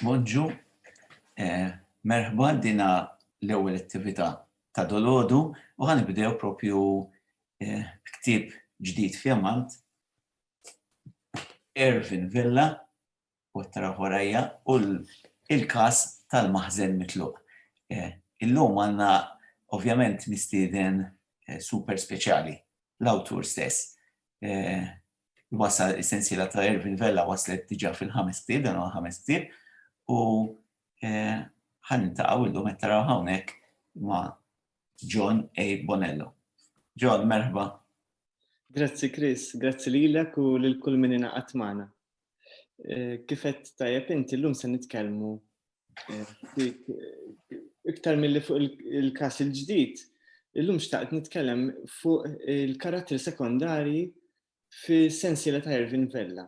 Bonġu, eh, merħba dina l-ewwel attività ta' dolodu u ħanibdew propju eh, ktib ġdid fjamant Ervin Villa u t-tara warajja u l-kas tal-maħzen mitluq. Eh, illum għanna ovvjament mistieden super speċjali l-awtur stess. wasal is-sensiela ta' Irvin Vella waslet diġà fil-ħames ktieb, dan huwa ħames ktieb, u eh, ħan nintaqgħu illum qed taraw hawnhekk ma' John A. Bonello. John, merħba. Grazzi Chris, grazzi lilek u lil kull min ingħaqad magħna. Eh, kif qed tajjeb inti llum se nitkellmu Iktar mill-li fuq il-kas il-ġdid, illum xtaqt nitkellem fuq il-karattri sekondari fi sensiela ta' Irvin Vella.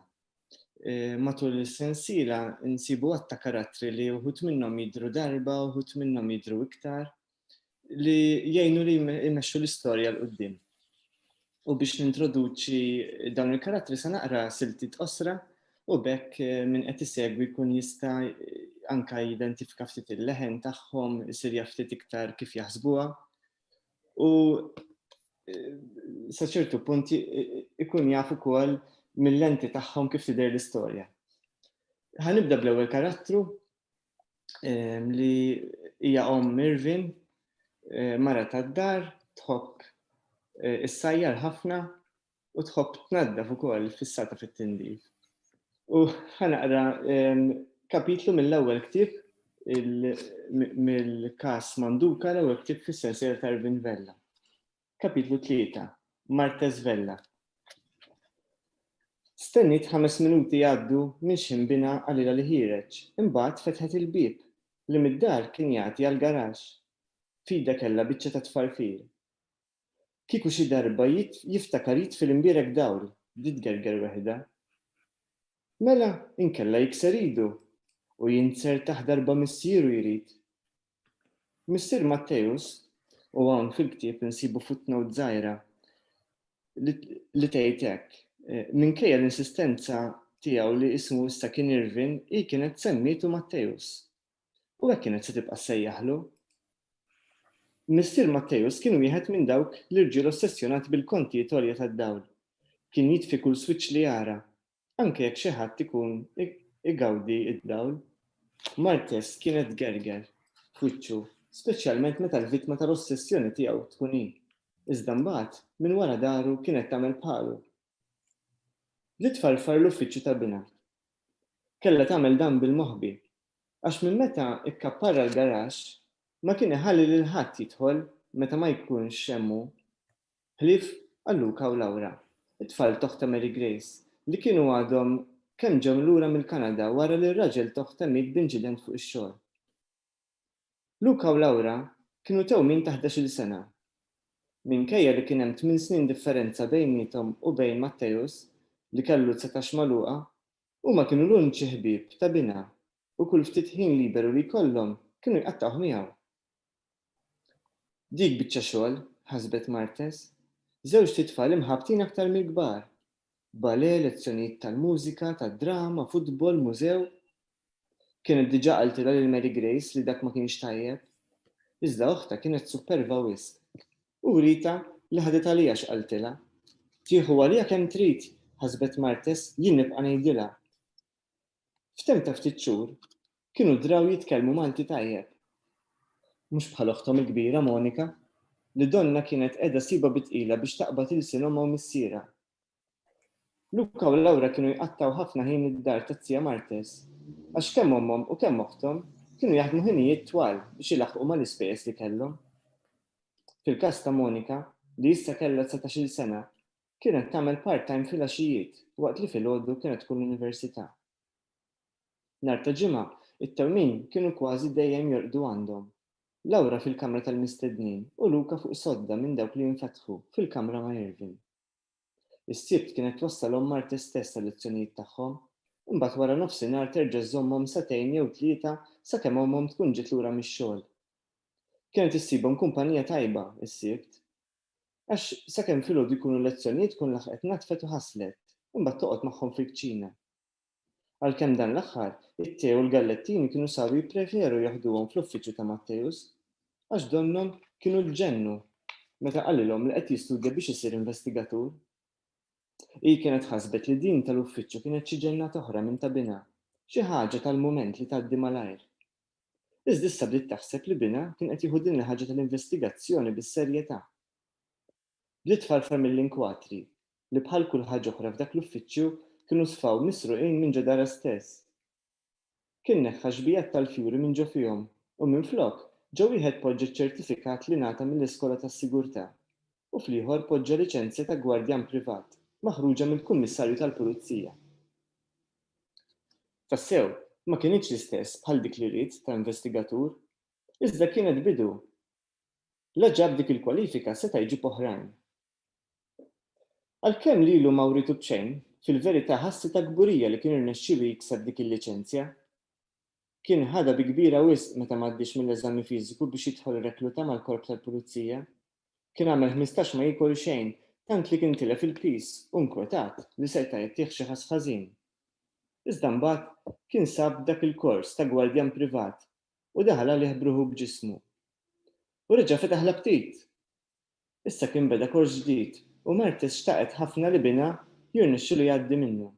Eh, matul is-sensiela nsibu għatta karattri li uħut minnhom jidru darba, uħut minnhom jidru iktar, li jgħinu li jmexxu l-istorja l-qoddim. U biex nintroduċi dawn il-karattri se naqra silti tqosra u bekk eh, minn qed isegwi jkun jista' anka jidentifika ftit il-leħen tagħhom, isir ftit iktar kif jaħsbuha. U eh, sa ċertu punt eh, ikun jaf ukoll mill-lenti tagħhom kif tidher l-istorja. Ħanibda bl-ewwel karattru li hija omm Irvin, eh, mara tad-dar, tħobb eh, issajjar ħafna u tħobb tnaddaf ukoll fissata fit-tindif. U ħanaqra kapitlu mill-ewwel ktieb mill-kas Manduka l-ewwel ktieb fis-sensier ta' Irvin Vella. Kapitlu 3 Martes Vella Stenniet ħames minuti jgħaddu minn x'inbina qalilha li ħiereġ, imbagħad fetħet il-bieb li mid-dar kien jagħti għall-garaxx. F'idha kellha biċċa ta' tfarfir. Kieku xi darba jiftakar jitfi l-imbierek dawl, bdiet tgerger weħidha. Mela, inkella jikser idu u jinser taħt darba missieru jrid. Missier Matteus, u hawn fil-ktieb insibu footnote żgħira li tgħid hekk, eh, minkejja l-insistenza tiegħu li ismu issa kien Irvin, hi kienet semmitu Matteus. U hekk kienet se tibqa' sejjaħlu. Missier Matteus kien wieħed minn dawk l-irġiel ossessjonati bil-kontijiet għolja tad-dawl. Kien jitfi kull swiċċ li jara, anke jekk xi ħadd ikun igawdi d-dawl. Martes kienet tgerger f'wiċċu, speċjalment meta l-vittma tal-ossessjoni tiegħu tkun hi, iżda mbagħad minn wara dahru kienet tagħmel bħalu. Bdiet tfarfar l-uffiċċju ta' binha. Kellha tagħmel dan bil-moħbi, għax minn meta kkapparra l-garaxx ma kien iħalli lil ħadd jidħol meta ma jkunx hemm hu. Ħlief għal Luca u Laura, it-tfal t'oħtha Mary Grace, li kienu għadhom kemm ġew lura mill-Kanada wara li r-raġel t'oħtha miet b'inċident fuq ix-xogħol. Luca u Laura kienu tewmin ta' ħdax-il sena. Minkejja li kien hemm tmien snin differenza bejniethom u bejn Matteus, li kellu dsatax magħluqa, huma kienu l-uniċi ħbieb ta' binha u kull ftit ħin liberu li jkollhom kienu jqattgħuh miegħu. Dik biċċa xogħol, ħasbet Martes. Żewġt itfal imħabbtin aktar mill-kbar. Ballet, lezzjonijiet tal-mużika, tad-drama, futbol, mużew. Kienet diġà qaltilha lil Mary Grace li dak ma kienx tajjeb. Iżda oħtha kienet supperva wisq. U writha li ħadet għaliha x'qaltilha. Tieħu għaliha kemm trid, ħasbet Martes, jien nibqa' ngħidilha. F'temp ta' ftit xhur, kienu draw jitkellmu Malti tajjeb. Mhux bħal oħthom il-kbira Monika, li donnha kienet qiegħda ssibha bi tqila biex taqbad ilsien ommha u missierha. Luca u Laura kienu jqattgħu ħafna ħin id-dar tat-tija Martes, għax kemm ommhom u kemm oħthom kienu jaħdmu ħinijiet twal biex ilaħħqu mal-ispejjeż li kellhom. Fil-każ ta' Monika, li issa kellha dsatax-il sena, Kienet tagħmel part-time fil-għaxijiet waqt li filgħodu kienet tkun l-università. Nhar ta' Ġimgħa, it-tewmin kienu kważi dejjem jorqdu għandhom, Laura fil-kamra tal-mistednin u Luca fuq sodda minn dawk li jinfetħu fil-kamra ma' Irvin. Is-Sibt kienet twassalhom Martes stess għal-lezzjonijiet tagħhom, imbagħad waranofsinhar terġa' żżommhom sagħtejn jew tlieta sakemm ommhom tkun ġiet lura mix-xogħol. Kienet issibhom kumpanija tajba, is-Sibt. Għax sakemm filgħodu jkunu l-lezzjonijiet tkun laħqet natfet u ħaslet, imbagħad toqgħod magħhom fil-kċina. Għalkemm dan l-aħħar, it-te u l-gallettini kienu saru jippreferu jaħduhom fl-uffiċċju ta' Matteus, għax donnhom kienu ġġennu meta qalilhom li qed jistudja biex isir investigatur. Hi kienet ħasbet li din tal-uffiċċju kienet xi ġennata oħra minn ta' binha, xi ħaġa tal-mument li tgħaddi malajr. Iżda issa bdiet taħseb li binha kien qed jieħu din il-ħaġa tal-investigazzjoni bis-serjetà. Bdiet tfarfar mill-inkwatri, li bħal kull ħaġa oħra f'dak l-uffiċċju kienu sfaw misruqin minn ġo darha stess. Kien neħħa xbijat tal-fjuri minn ġo fihom u minflok ġo wieħed poġġa ċ-ċertifikat li ngħata mill-iskola tas-sigurtà u fl-ieħor poġġa liċenzja ta' gwardjan privat maħruġa mill-kummissarju tal-pulizija. Tassew, ma kinitx l-istess bħal dik li ried ta' investigatur, iżda kienet bidu. La ġab dik il-kwalifika seta' jġib oħrajn. Għalkemm lilu ma writu b'xejn, fil-verità ħassi ta' kburija li kien irnexxielu jikseb dik il-liċenzja. Kien ħadha bi kbira wisq meta m'għaddiex mill-eżami fiżiku biex jidħol rekluta mal-Korp tal-Pulizija. Kien għamel ħmistax ma jiekol xejn, tant li kien tilef il-piż u nkwetat li seta' jagħtih xi ħass ħażin. Iżda mbagħad kien sab dak il-kors ta' gwardjan privat u daħal għalih b'ruħu b'ġismu. U reġa' fetaħ l-aptit! Issa kien beda kors ġdid u Mertes xtaqet ħafna li binha jirnexxilu jgħaddi minnu.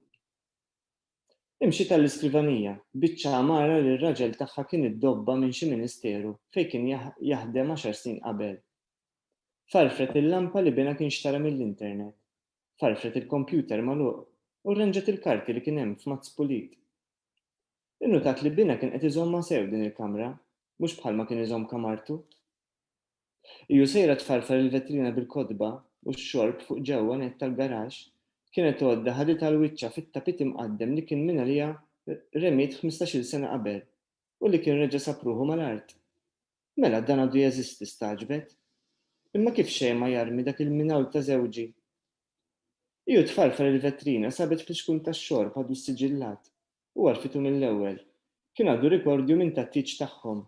Imxiet għall-iskrivanija, biċċa għamara li r-raġel tagħha kien iddobba minn xi ministeru fejn kien jaħdem għaxar snin qabel. Farfret il-lampa li binha kien xtara mill-internet, farfret il-kompjuter magħluq u rranġat il-karti li kien hemm f'mazz pulit. Innutat li binha kien qed iżommha sew din il-kamra, mhux bħalma kien iżomm kamartu. Hi u sejra tfarfar il-vetrina bil-kotba u x-xorb fuq ġewwa nett tal-garaxx, kienet għodda ħaditha l-wiċċa fit-tapit imqaddem li kien mingħalija remiet ħmistax-il sena qabel u li kien reġa' sab ruħu mal-art. Mela, dan għadu jeżisti, stagħġbet. Imma kif xejn ma jarmi dak il-minawl ta' żewġi? Hi u tfarfar il-vetrina sabet flixkun tax-xorb għadu ssiġillat. u għarfitu mill-ewwel. Kien għadu rikordju minn tat-tieġ tagħhom.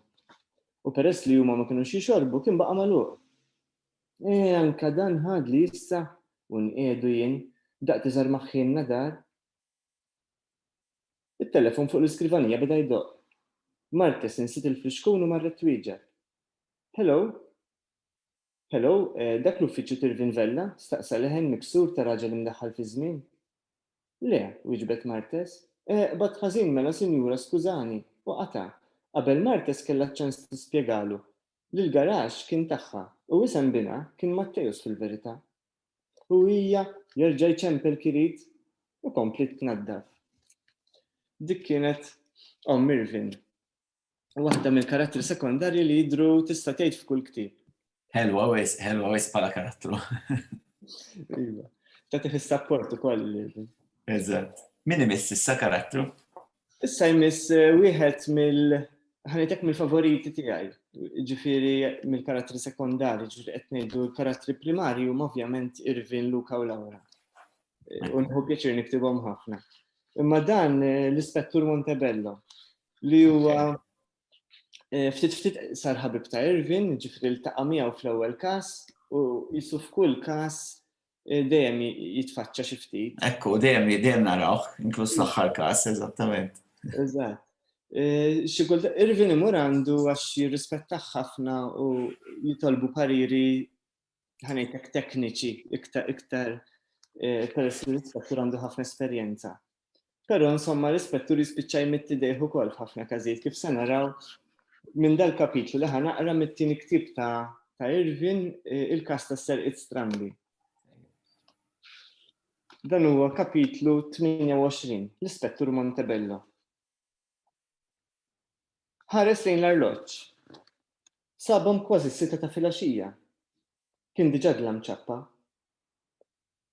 U peress li huma ma kinux jixorbu, kien baqa' magħluq. E, anka dan ħadli issa, u nqiegħdu jien, daqq tiżgħar ma' ħħi n-nadar. It-telefon fuq l-iskrivanija beda jdoqq. Martez insiet il-flixkun u marret twieġeb. Hello? Hello, dak l-uffiċċju t'Irvin Vella? staqsa leħen miksur ta' raġel imdaħħal fiż-żmien. Le, wieġbet Martes. Eh, qbadt ħażin mela sinjura skużani! u qata', qabel Martes kellha ċ-ċans tispjegalu li l-garaxx kien tagħha u isem binha kien Matteus fil-verità. U hija, jerġa' jċempel kirit u kompliet tnaddaf. Dik kienet omm Irvin. waħda mill-karattri sekondarji li jidru tista' tgħid f'kull ktieb. Helwa wis, helwa wis bħala karattru. Iva. Ta' tiħis sapport ukoll. Eżatt. Min imiss issa karattru? Issa jmiss eh, wieħed mill ħanitek mill-favoriti tiegħi, ġifieri mill-karattri sekondari, ġifieri qed ngħidu l-karattri primarji huma ovvjament Irvin, Luka u Laura. Unħu pjaċir niktibhom ħafna. Imma dan eh, l-Ispettur Montebello li huwa eh, ftit ftit sar ħabib ta' Irvin, ġifri l-taqa' miegħu fl-ewwel każ u jisu f'kull każ eh, dejjem jitfaċċa xi ftit. Ekku, dejjem dejjem narawh, inkluż l-aħħar każ, eżattament. Eżatt. Xi kulta Irvin imur għandu għax jirrispettaħ ħafna u jitolbu pariri ħanejtek tekniċi iktar iktar eh, peress li l-ispettur għandu ħafna esperjenza. Però insomma l-ispettur jispiċċa jmitti dejħu kol f'ħafna każijiet kif se naraw minn dal-kapitlu li ħanaqra mit-tieni ktib ta' ta' Irvin eh, il-kas ta' Sir It Strambi. Dan huwa kapitlu 28, l-Ispettur Montebello. Ħares lejn l-arloġġ. Sabhom kważi s-sitta ta' filgħaxija. Kien diġà dlam ċappa.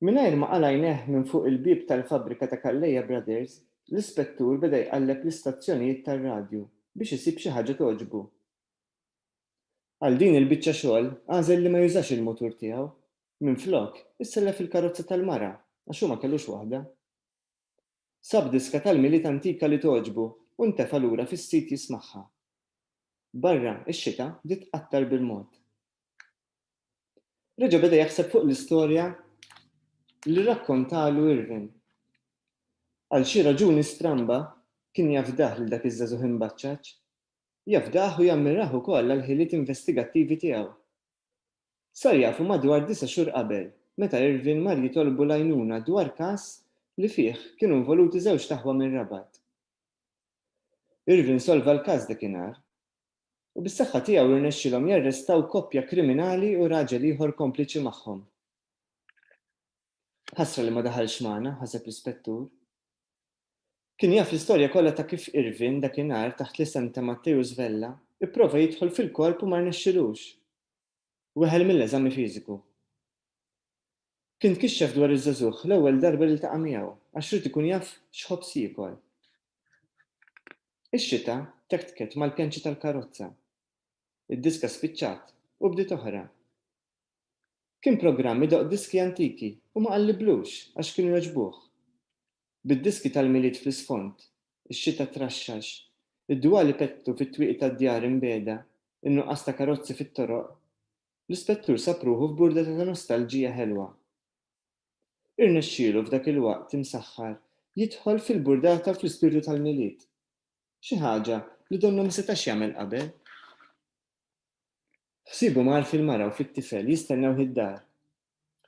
Mingħajr ma qala' għajnejh minn fuq il-bieb tal-fabbrika ta' Calleja Brothers, l-ispettur beda jqalleb l-istazzjonijiet tar-radju biex isib xi ħaġa togħġbu. Għal din il-biċċa xogħol għażel li ma jużax il-mutur tiegħu. Minflok, issellef il-karozza tal-mara għax hu ma kellux waħda. Sab diska tal-Milied antika li togħġbu u ntefa' lura fis-sit jismagħha. Barra, ix-xita bdiet tqattar bil-mod. Reġa' beda jaħseb fuq l-istorja li rrakkontalu Irvin. Għal xi raġuni stramba, kien jafdah lil dak iż-żagħżugħ imbaċċaċ. Jafdah u jammirah ukoll għall-ħiliet investigattivi tiegħu. Sar jafu madwar disa' xhur qabel, meta Irvin mar jitolbu l-għajnuna dwar każ li fih kienu involuti żewġt aħwa minn Rabat. Irvin solva l-każ dakinhar, u bis-saħħa tiegħu rnexxielhom jarrestaw koppja kriminali u raġel ieħor kompliċi magħhom. Ħasra li ma daħalx magħna, ħaseb l-Ispettur. Kien jaf l-istorja kollha ta' kif Irvin, dakinhar, taħt l-isem ta' Matteus Vella, ipprova jidħol fil-korp u ma rnexxilux. Weħel mill-eżami fiżiku. Kien tkixxef dwar iż-żagħżugħ l-ewwel darba li ltaqa' miegħu, għax ried ikun jaf x'ħobż jiekol. Ix-xita tektket mal-pjanċi tal-karozza. Id-diska spiċċat u bdiet oħra. Kien programm idoqq diski antiki u ma qalliblux għax kienu jogħġbuh. bid-diski tal-Milied fl-isfond, ix-xita traxxax, id-dwal ipettu fit-twieqi tad-djar imbiegħda, in-nuqqas ta' karozzi fit-toroq, l-Ispettur sab ruħu f'burdeta ta' nostalġija ħelwa. Irnexxielu f'dak il-waqt imsaħħar jidħol fil-burdata u fl-ispirtu tal-Milied, xi ħaġa li donnu ma setax jagħmel qabel. Ħsiebu mar fil-mara u fit-tifel jistennewh id-dar,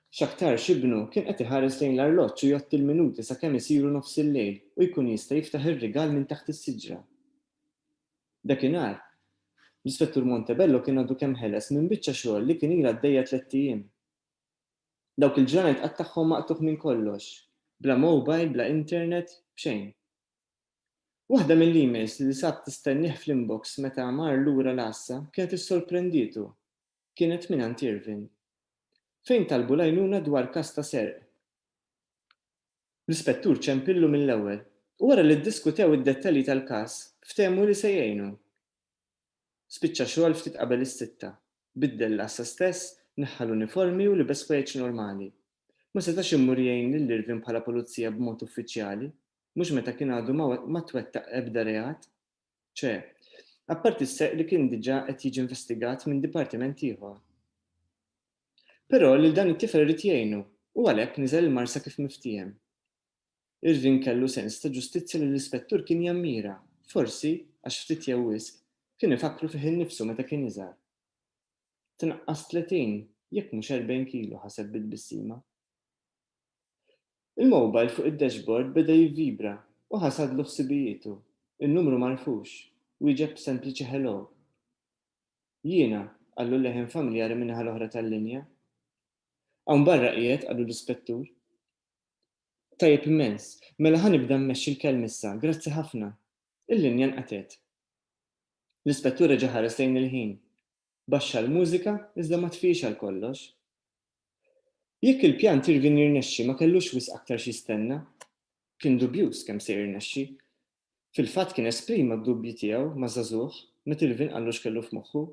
X'aktarx ibnu kien qed iħares lejn l-arloġġ u jgħodd il-minuti sakemm isiru nofs il-lejl u jkun jista' jiftaħ ir-rigal minn taħt is-siġra. Dakinhar, l-Ispettur Montebello kien għadu kemm ħeles minn biċċa xogħol li kien ilha għaddejja tlett ijiem. Dawk il-ġranet qattagħhom maqtugħ minn kollox. Bla mowbajl, bla internet, b'xejn. Waħda mill-emails li sab tistennieh fl-inbox meta mar lura l-għassa kienet issorprendietu. kienet mingħand Irvin, fejn talbu l-għajnuna dwar każ ta' serq. L-Ispettur ċempillu mill-ewwel u wara li ddiskutew id-dettalji tal-każ ftehmu li se jgħinu. Spiċċa xogħol ftit qabel is-sitta, biddel l-għassa stess, neħħa l-uniformi u libes kwejjeġ normali. Ma setax immur jgħin lil Irvin bħala pulizija b'mod uffiċjali, mhux meta kien għadu ma twettaq ebda reat. ċe, apparti s-serq li kien diġà qed jiġi investigat minn dipartiment ieħor. Però lil dan it-tifel irid jgħinu u għalhekk niżel il-marsa kif miftiehem. Irvin kellu sens ta' ġustizzja li l-ispettur kien jammira, forsi, għax ftit jew wisq, kien ifakkru fih innifsu meta kien iżgħar. Tnaqqas 30, jekk mhux 40 kilo, ħaseb bi tbissima. Il-mowbajl fuq id-dashboard beda jivvibra u ħasadlu ħsibijietu. In-numru m'għarfux. Wieġeb b'sempliċi hello. Jiena, qallu leħen familjari min-naħa l-oħra tal-linja. Hawn barra qiegħed, qallu l-ispettur. Tajjeb immens. Mela ħa nibda mmexxi l-kelm issa. Grazzi ħafna. Il-linja nqatgħet. L-ispettur reġa' ħares lejn il-ħin. Baxxa l-mużika iżda ma tfiex għal kollox. Jekk il-pjan t'Irvin jirnexxi ma kellux wisq aktar x'jistenna. Kien dubjuż kemm se jirnexxi. Fil-fatt kien esprima d-dubji tiegħu ma' żagħżugħ meta Irvin qallu x'kellu f'moħħu.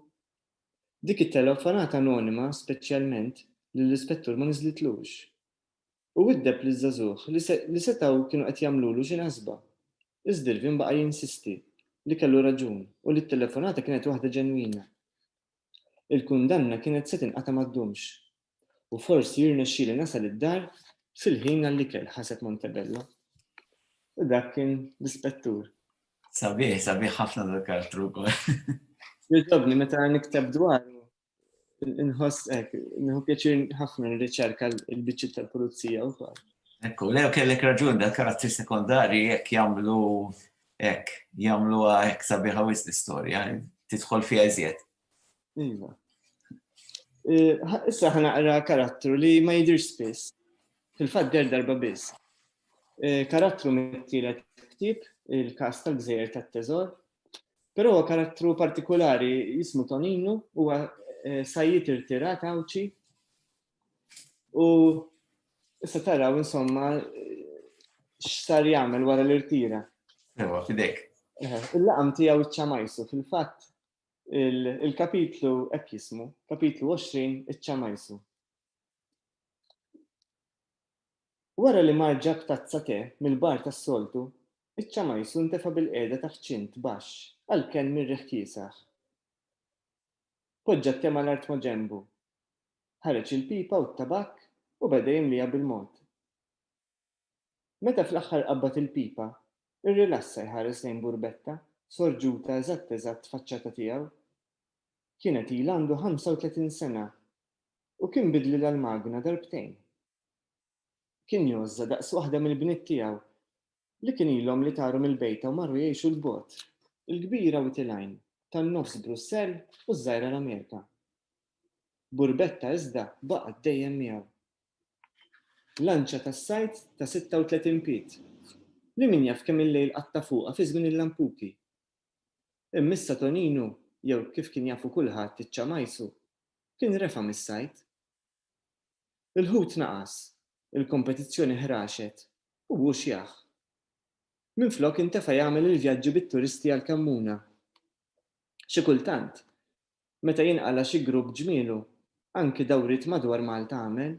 Dik it-telefonata anonima speċjalment lill-Ispettur ma niżlitlux. u widdeb liż-żagħżugħ li setgħu kienu qed jagħmlulu xi naħsba. Iżdirvin baqa' jinsisti li kellu raġun u li t-telefonata kienet waħda ġenwina. Il-kundanna kienet se tinqata' ma ddumx. U forsi jirnexxieli nasal id-dar fil-ħin għall-ikel, ħaseb Montebello. U dak kien l-Ispettur. Sabiħ, sabiħ ħafna dal-karattru wkoll. Jogħġobni meta nikteb dwaru. Nħoss ek, nħu pjaċir ħafna n-riċerka l-bicċi tal-pulizija u kol. Ekku, lew kellek raġun da karattri sekondari jek jamlu ek, jamlu ek sabiħa wis l-istoria, titħol fija iżjed. Iva. E, issa ħana għara karattru li ma jidir spiss, fil-fat der darba biss. E, karattru mit-tielet ktib, il-kas tal-gżejjer tat-teżor, Però huwa karattru partikolari jismu Toninu huwa eh, sajjid irtirat għawċi u issa taraw insomma x'sar jagħmel wara l-irtira. Ewa, fidek. Eh, il-laqam tiegħu ċ-ċamajsu fil-fatt il-kapitlu hekk jismu, kapitlu 20 iċ-ċamajsu. Wara li mar ġab tazza te mill-bar tas-soltu, Iċċa Majsu ntefa' bilqiegħda taħt ċint baxx għal kenn mir-riħ kiesaħ. Poġġa t-te mal-art maġenbu. Ħareġ il-pipa u t-tabakk u beda jimlieha bil-mod. Meta fl-aħħar qabbad il-pipa, irrilassa jħares lejn Burbetta, sorġuta eżatt eżatt faċċata tiegħu. Kienet ilha għandu ħamsa u tletin sena u kien bidlilha l-magna darbtejn. kien jgħożża daqs waħda mill-bniet tiegħu, li kien ilhom li taru mill-bejta u marru jgħixu 'l bogħod, il-kbira Wied il-Għajn, tan-Nofs Brussell u ż-Żgħira l-Amerika. Burbetta iżda baqgħet dejjem miegħu. Lanċa tas-sajd ta' 36 pied, li min jaf kemm il-lejl qatta' fuqha fi żmien il-lampuki. Imma issa Toninu, jew kif kien jafu kulħadd iċ-Ċamajsu, kien refa' mis-sajd. Il-ħut naqas, il-kompetizzjoni ħraxet u hu xjah. Minflok intefa' jagħmel il-vjaġġi bit-turisti għall-Kammuna. Xi kultant, meta jinqala' xi grupp ġmielu, anki dawriet madwar Malta għamel.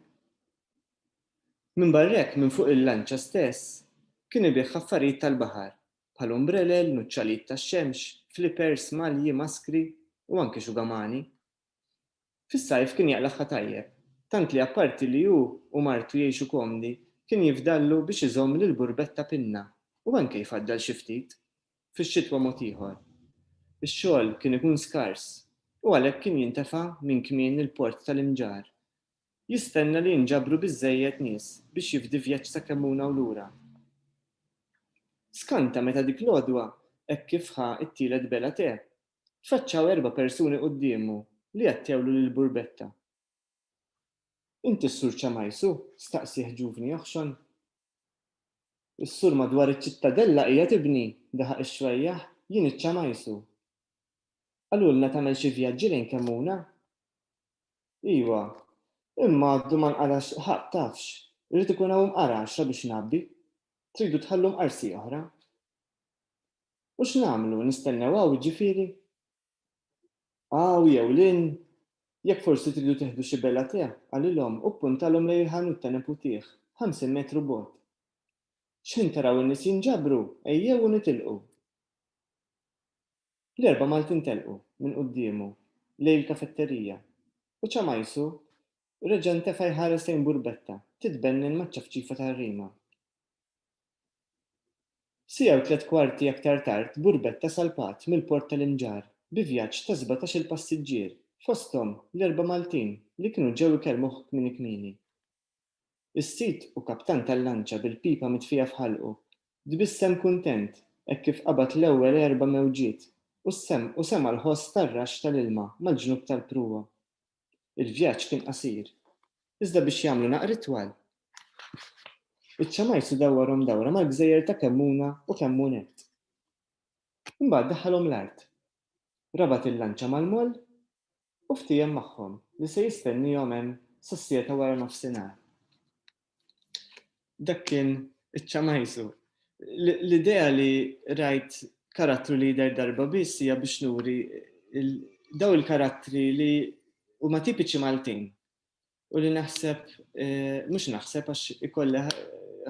Minbarr'hekk minn fuq il-lanċa stess kien ibigħ affarijiet tal-baħar bħal umbrelel, nuċċalijiet tax-xemx, flipers, malji, maskri u anki xugamani. Fis-sajf kien jaqlagħha tajjeb, tant li apparti li hu u martu jgħixu komdi, kien jifdallu biex iżomm lill-burbetta pinna u anke jfaddal xi ftit. Fix-xitwa mod ieħor. Ix-xogħol kien ikun skars u għalhekk kien jintefa' minn kmien il-port tal-Imġarr. Jistenna li jinġabru biżżejjed nies biex jifdi vjaġġ ta' kemmuna u lura. Skanta meta dik l-għodwa hekk kif ħa t-tielet bela te, tfaċċaw erba' persuni quddiemu li għattewlu lil Burbetta. Inti s-Sur Ċamajsu? staqsieh ġuvni joħxon. Is-sur madwar iċ-Ċittadella qiegħed ibni, daħaq ix-xwejjaħ, jien iċ-Ċamajsu. Qalulna tagħmel xi vjaġġi lejn Kemmuna? Iwa, imma għadu ma nqarax ħadd tafx, irid ikun hawn mqar għaxra biex ngħabbi. Tridu tħallu mqar si oħra? U x'nagħmlu, nistennew hawn jiġifieri? Hawn jew lil? Jekk forsi tridu tieħdu xi bella tè, qalilhom u ppuntalhom lejn il-ħanut ta' neputih, ħamsin metru bogħod. X'ħin taraw in-nies jinġabru, ejjew u nitilqu. L-erbgħa Maltin telqu, minn quddiemu, lejn il-kafetterija, u Ċamajsu reġa' ntefa' jħares lejn Burbetta, titbennin maċ-ċafċifa tar-rima. Siegħa u tliet kwarti aktar tard burbetta salpat mill-Port tal-Inġar bi vjaġġ ta' sbatax-il passiġġier, fosthom l-erba' Maltin li kienu ġew ikellmuh kmieni kmieni. Is-sid u kaptan tal-lanċa bil-pipa mitfija f'ħalqu, tbissem kuntent hekk kif qabad l-ewwel erba' mewġiet u semgħa l-ħoss tar-raxx tal-ilma mal-ġnub tal-pruwa. Il-vjaġġ kien qasir, iżda biex jagħmlu naqra itwal, iċ-Ċamajsu dawwarhom dawra mal-gżejjer ta' Kemmuna u Kemmunet. Imbagħad daħħalhom l-art, rabat il-lanċa mal-moll u ftiehem magħhom li se jistenniehom hemm sas-siegħa ta' waranofsinhar. Dak kien iċ-ċamajsu. L-idea li rajt karattru li jidher darba biss hija biex nuri daw il-karattri li huma tipiċi Maltin u li naħseb, eh, mhux naħseb għax ikollha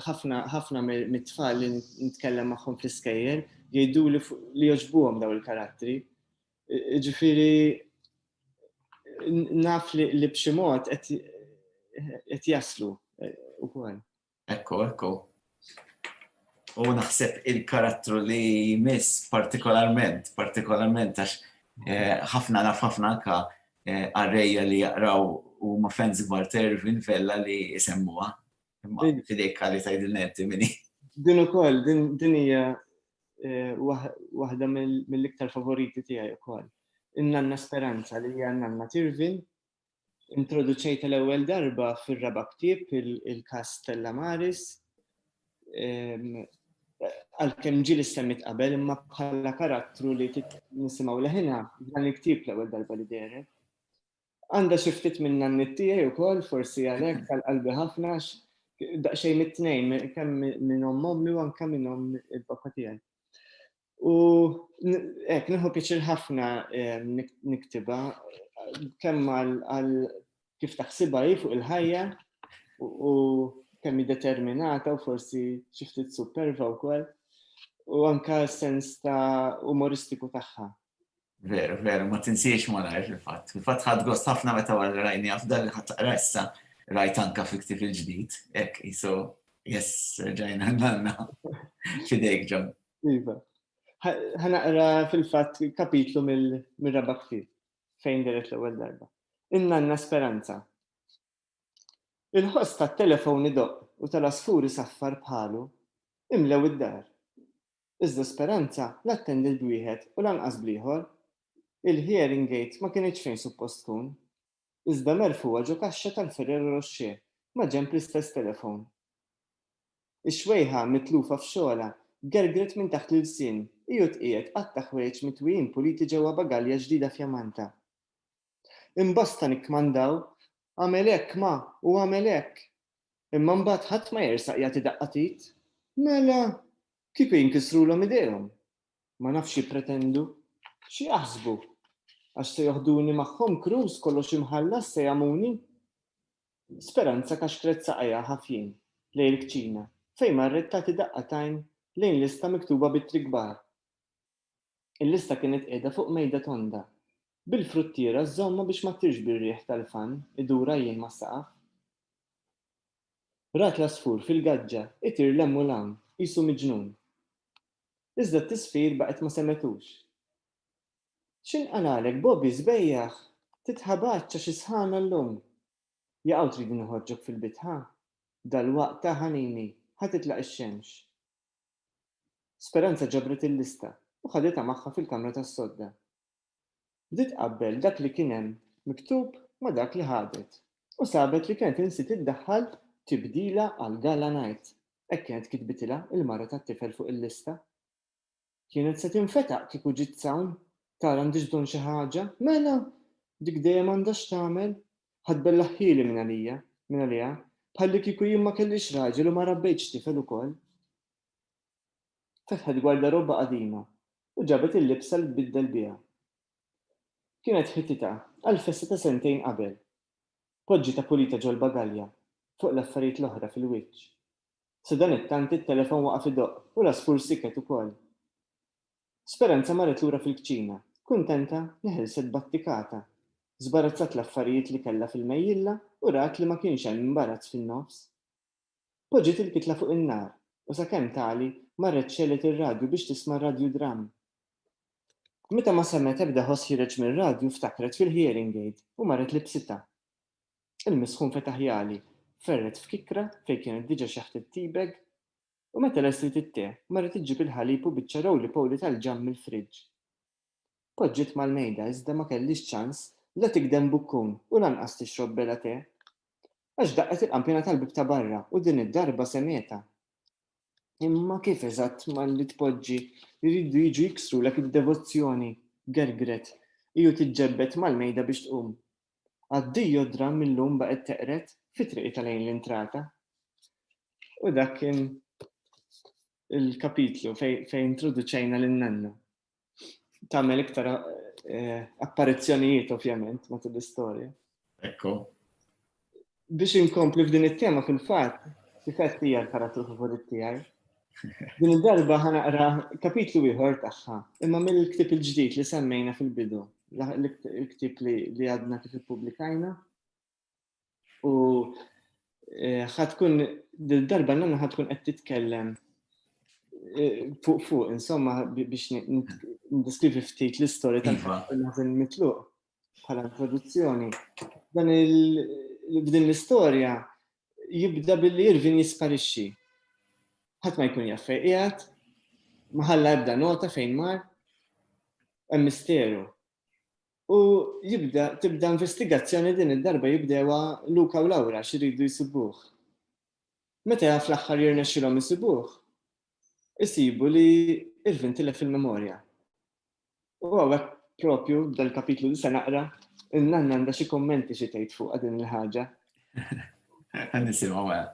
ħafna ħafna mit-tfal li nitkellem magħhom fl-iskejjel jgħidu li joġbuhom daw il-karattri. Ġifiri, naf li, li b'xi mod qed jaslu eh, ukoll. Ekku, ekku. U naħseb il-karattru li jmiss partikolarment, partikolarment għax eh, ħafna naf ħafna anka eh, għarreja li jaqraw u ma fans gbar Tervin Vella li jisemmuha. Fidejk għalli tajdilna inti minni. Din u koll, din hija eh, waħda mill-iktar favoriti tijaj u koll. Innanna Speranza li hija nanna Tirvin, introduċejta l-ewwel darba fir-raba' ktieb il-kas Stella Maris. Ehm, għalkemm ġil semmit qabel imma bħala karattru li nisimgħu leħina dan il-ktieb l-ewwel darba li deret. Għandha xi ftit minn nanniet tiegħi wkoll, forsi għalhekk għal qalbi ħafna għax daqsxejn it-tnejn, kemm minn omm ommi u anke minn omm il-papà tiegħi. U hekk nieħu pjaċir ħafna niktibha kemm għal kif taħsibha hi fuq il-ħajja u kemm hi determinata u forsi xi ftit superva wkoll u anke s-sens ta' umoristiku tagħha Veru, veru, ma tinsiex malajr fil-fatt. Fil-fatt ħadd gost ħafna meta wara rajni għaf dan li ħadd taqra issa rajt anka fi ktif il-ġdid, hekk iso jess ġajna nanna fidejk ġon. Iva. Ħanaqra fil-fatt kapitlu mill-raba' ktif fejn deret l-ewwel darba. In-nanna Speranza. Il-ħoss tat-telefon idoqq u tal-asfuri saffar bħalu imlew id-dar. Iżda Speranza la attendiet b'wieħed u lanqas bl-ieħor. Il-hearing aid ma kinitx fejn suppost tkun. Iżda merfugħa ġo kaxxa tal-Ferrero Rocher maġenb l-istess telefon. Ix-xwejħa mitlufa f'xogħolha gergret minn taħt l-ilsien, hi u tqiegħed għadd ta' ħwejjeġ mitwijin puliti ġewwa bagalja ġdida fjamanta. Imbosta nikkmandaw, Agħmel hekk, ma, u agħmel hekk! Imma mbagħad ħadd ma jersaq jagħti daqqa t'id. Mela, kieku jinkisrulhom idejhom? Ma nafx x'jippretendu. X'jaħsbu? Għax se joħduni magħhom Cruz kollox imħallas se jagħmuni? Speranza kaxkret saqajha ħafjin lejn il-kċina fejn marret tagħti daqqa t'għajn lejn lista miktuba b'ittri kbar. Il-lista kienet qiegħda fuq mejda tonda, bil-fruttiera żżommha biex ma ttirx bir-riħ tal-fann idur għajjien mas-saqaf. Rat l-għasfur fil-gaġġa jtir 'l hemm u 'l hawn, qisu miġnun. Iżda t-tisfir baqgħet ma semgħetux. X'inqalagħlek, Bobby, sbejjaħ? Titħabatx għax is-sħana llum! Jaqaw tridni noħorġok fil-bitħa? Dalwaqt, ta' ħanini, ħa titlaq ix-xemx. Speranza ġabret il-lista u ħaditha magħha fil-kamra tas-sodda. Bdiet tqabbel dak li kien hemm miktub ma' dak li ħadet u sabet li kienet insiet iddaħħal tibdila għal Gala Night, hekk kienet kitbitilha l-mara tat-tifel fuq il-lista. Kienet se tinfetaq kieku ġiet s'hawn tara għandhiex bżonn xi ħaġa. Mela! Dik dejjem għandha x'tagħmel. Ħa tbellaħ ħieli minn għalija, minn għaliha, bħallikieku jien ma kellix raġel u ma rabbejtx tifel ukoll. Fetħet gwarda robba qadima u ġabet il-libsa li tbiddel biha. Kienet ħititha għall-festa ta' sentejn qabel. Poġġitha pulita ġol-bagalja, fuq l-affarijiet l-oħra fil-wiċċ. Sadanittant it-telefon waqaf idoqq u l-għasfur siket ukoll. Speranza marret lura fil-kċina, kuntenta li ħelset battikata. Żbarazzat l-affarijiet li kellha fil-mejjilla u rat li ma kienx hemm imbarazz fin-nofs. Poġġiet il-kitla fuq in-nar u sakemm tagħli marret xegħlet ir-radju biex tisma' r-radju dramm. Meta ma semgħet ebda ħoss ħiereġ mir-radju ftakret fil-hearing aid u marret libsitha. Il-misħun fetaħ jagħli, ferret f'kikra fejn kienet diġa xeħtet tea bag, U meta lest trid it-te, mara trid ġġib il-ħalib u biċċa rowli-powli tal-ġamm mill-friġġ. Poġġiet mal-mejda iżda ma kellhiex ċans la tigdem bukkun u lanqas tixrob bela te. Għax daqqet il-qanpiena tal-bieb ta' barra u din id-darba semgħetha. Imma kif eżatt malli tpoġġi jridu jiġu jiksrulek id-devozzjoni? gergret hi u tiġġebbed mal-mejda biex tqum. Għaddej u d-dramm illum baqgħet teqred fi triqitha lejn l-intrata. U dak kien il-kapitlu fejn introduċejna lil nanna. Tagħmel iktar eh, apparizzjonijiet ovvjament matul l-istorja. Ekku. biex inkompli f'din it-tema fil-fatt, sifett hija l-karattru favorit tiegħi. Din id-darba ħanaqra kapitlu ieħor tagħha, imma mill-ktib il-ġdid li semmejna fil-bidu, l-ktib li għadna kif ippubblikajna. U eh, ħatkun dil-darba nanna ħatkun qed titkellem eh, fuq fuq, insomma biex ndiskrivi ftit l-istorja tal-ħażin iva. mitluq. bħala introduzzjoni. Dan il-bdin l-istorja jibda billi Irvin jisparixxi. Ħadd ma jkun jaffej qiegħed, ma ħalla ebda nota fejn mar, hemm misteru. U jibda tibda investigazzjoni din id-darba jibdewa Luka u Laura xiridu jisibuh. Meta fl-aħħar jirnexxilhom jisibuh, isibu li Irvin tilef il-memorja. U għawek propju dal-kapitlu li se naqra, il-nanna għandha xi kommenti xi tgħid fuq din il-ħaġa. Nisimgħu għal.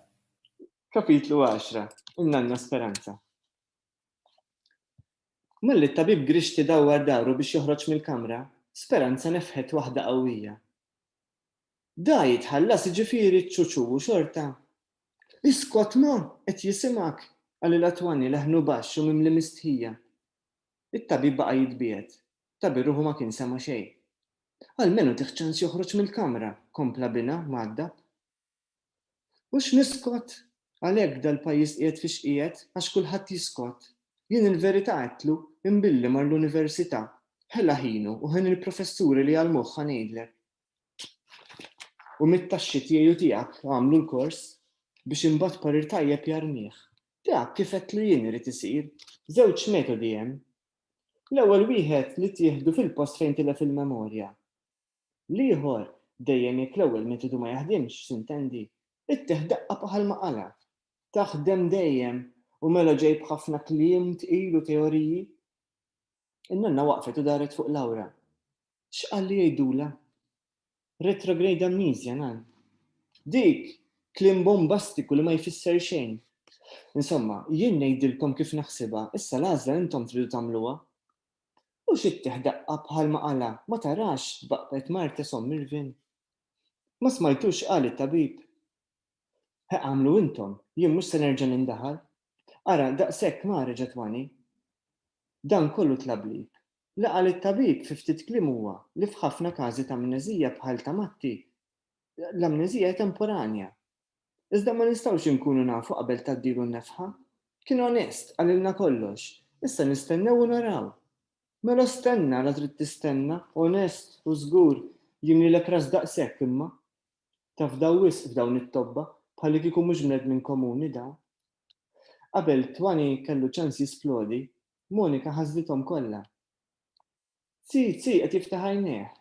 Kapitlu 10, il-nanna Speranza. Malli t-tabib Grixti dawwar daru biex joħroġ mill-kamra, Speranza nefħet waħda qawwija. Da jitħallas jiġifieri ċ-ċuċu u xorta? Iskott ma! Qed jisimgħek! qalilha Twanny leħnu baxx u mimli mistħija. It-tabib baqa' jitbiegħed. Ta' bi ruħu ma kien sema' xejn. Almenu tih ċans joħroġ mill-kamra, kompla binha, mgħaddab. U x'niskott? Għalhekk dal-pajjiż qiegħed fiex qiegħed, għax kulħadd jiskott. Jien il-verità għedtlu, imbilli mar l-università. Ħela ħinu u ħin il-professuri li jgħallmuh ħa ngħidlek. U mit-taxxi tiegħi u tiegħek għamlu l-kors biex imbagħad parir tajjeb jarmih. Dak kif għedtlu jien irid isir. Żewġ metodi hemm. L-ewwel wieħed li tieħdu fil-post fejn tilef il-memorja. L-ieħor, dejjem jekk l-ewwel metodu ma jaħdimx, x'intendi, ittieħ daqqa b'aħal maqala. Taħdem dejjem u mela ġej b'ħafna kliem tqil u teoriji? In-nonna waqfet u daret fuq Laura. X'qal li jgħidulha? Retrograde amnesia, ngħid. Dik, kliem bombastiku li ma jfisser xejn. Insomma, jien ngħidilkom kif naħsibha, issa l-għażla intom tridu tagħmluha. Mhux ittieħ daqqa bħalma qalha, ma tarax, baqbet Martes omm Irvin. Ma smajtux x'qal it-tabib? He agħmlu intom, jien mhux se nerġa' nindaħal. Ara, daqshekk mara ġatwani. Dan kollu tlabli. Li qal it-tabib fi ftit kliem huwa li f'ħafna każi ta' amneżija bħal ta' Matti, l-amneżija hi temporanja. Iżda ma nistgħux inkunu nafu qabel tgħaddilu n-nefħa. Kien onest, qalilna kollox, issa nistennew u naraw. Mela stenna, la trid tistenna. Onest u żgur, jien lilek ras daqshekk imma. Tafdaw wisq f'dawn it-tobba, bħalli kieku mhux bnedmin komuni dawn. Qabel Twani kellu ċans jisplodi, Monika ħażlithom kollha. Zii Zii qed jiftaħ għajnejh.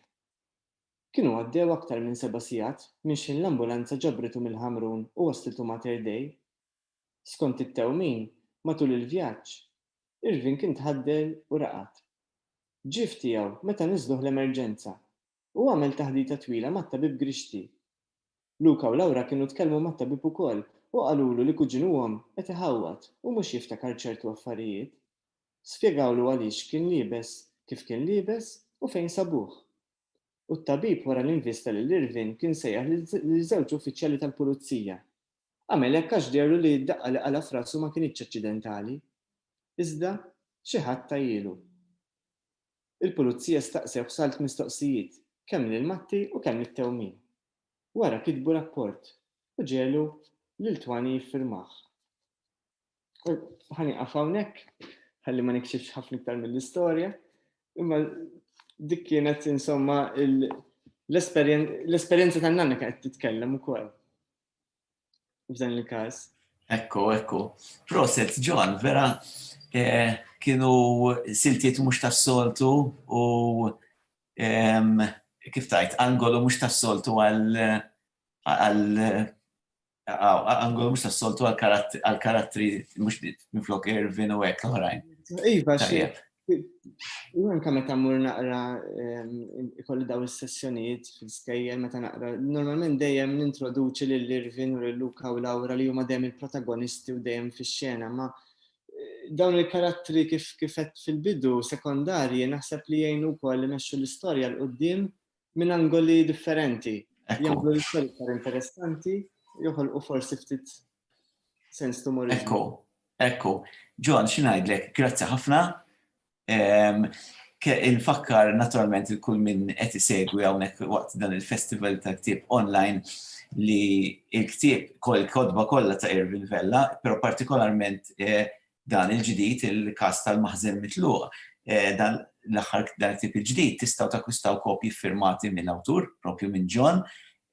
Kienu għaddew aktar minn seba' sigħat minn xħin l-ambulanza ġabritu mill-Ħamrun u wasslitu Mater Dei. Skont it-tewmin, matul il-vjaġġ, Irvin kien tħaddel u raqad. Ġie f'tiegħu meta niżluh l-emerġenza Hu għamel taħdita twila mat-tabib Grixti. Luca u Laura kienu tkellmu mat-tabib ukoll u qalulu li kuġinuhom qed iħawwad u mhux jiftakar ċertu affarijiet. Spjegawlu għaliex kien liebes kif kien liebes u fejn sabuh. U t-tabib wara li nvista lil Irvin kien sejjaħ lil żewġ uffiċjali tal-pulizija. Għamel hekk għax deherlu li d-daqqa li qala' f'rasu ma kinitx aċċidentali. Iżda xi ħadd tajhielu. Il-Pulizija staqsewh salt mistoqsijiet, kemm lil Matti u kemm lit-tewmin. Wara kitbu rapport u ġegħlu lil Twani jiffirmah. Ħa nieqaf hawnhekk ħalli ma nikxifx ħafna iktar mill-istorja, imma dik kienet insomma l-esperjenza tan-nanna kienet titkellem ukoll. f'dan il-każ. Ekku, ekku. Proset, John, vera eh, kienu siltiet mhux tas-soltu u kif tajt, angolu mhux tas-soltu għal angolu mhux tas-soltu għal karattri mhux minflok Irvin u hekk l-oħrajn. Iva, U anka meta mmur naqra ehm, ikolli daw is-sessjonijiet fil-skejjer meta naqra, normalment dejjem nintroduċi lil Irvin u lil Luka u Laura li huma dejjem il-protagonisti u dejjem fix-xena, ma eh, dawn il-karattri kif kifet fil-bidu sekondarji naħseb li jgħinu wkoll imexxu l-istorja l qudiem minn angoli differenti. Jagħmlu l-istorja iktar interessanti, joħolqu forsi ftit sens tumorizmu. Ekku, ekku. John, xinajdlek, grazzi ħafna. Ehm, infakkar naturalment il-kull minn qed isegwi hawnhekk waqt dan il-festival ta' ktieb online li il-ktieb kol kodba kollha ta' Irvin Vella, però partikolarment eh, dan il-ġdid il-każ tal-maħżen mitluq. Dan l-aħħar dan it-tip il-ġdid tistgħu takkwistaw kopji ffirmati mill-awtur, propju minn John,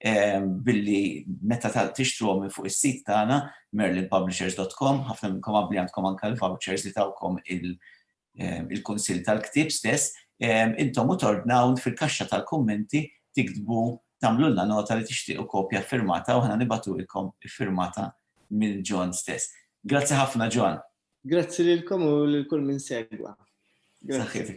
billi meta tixtruhom minn fuq is-sit tagħna merlinpublishers.com, ħafna minnkom qabbli għandkom anke l-vouchers li tawkom il-kunsill tal-ktieb stess, intom u tordnaw fil-kaxxa tal-kummenti tiktbu tagħmlulna nota li tixtiequ kopja ffirmata u aħna nibagħtulkom iffirmata minn John stess. Grazzi ħafna John. Grazzi lilkom u lil kull min segwa. Grazzi.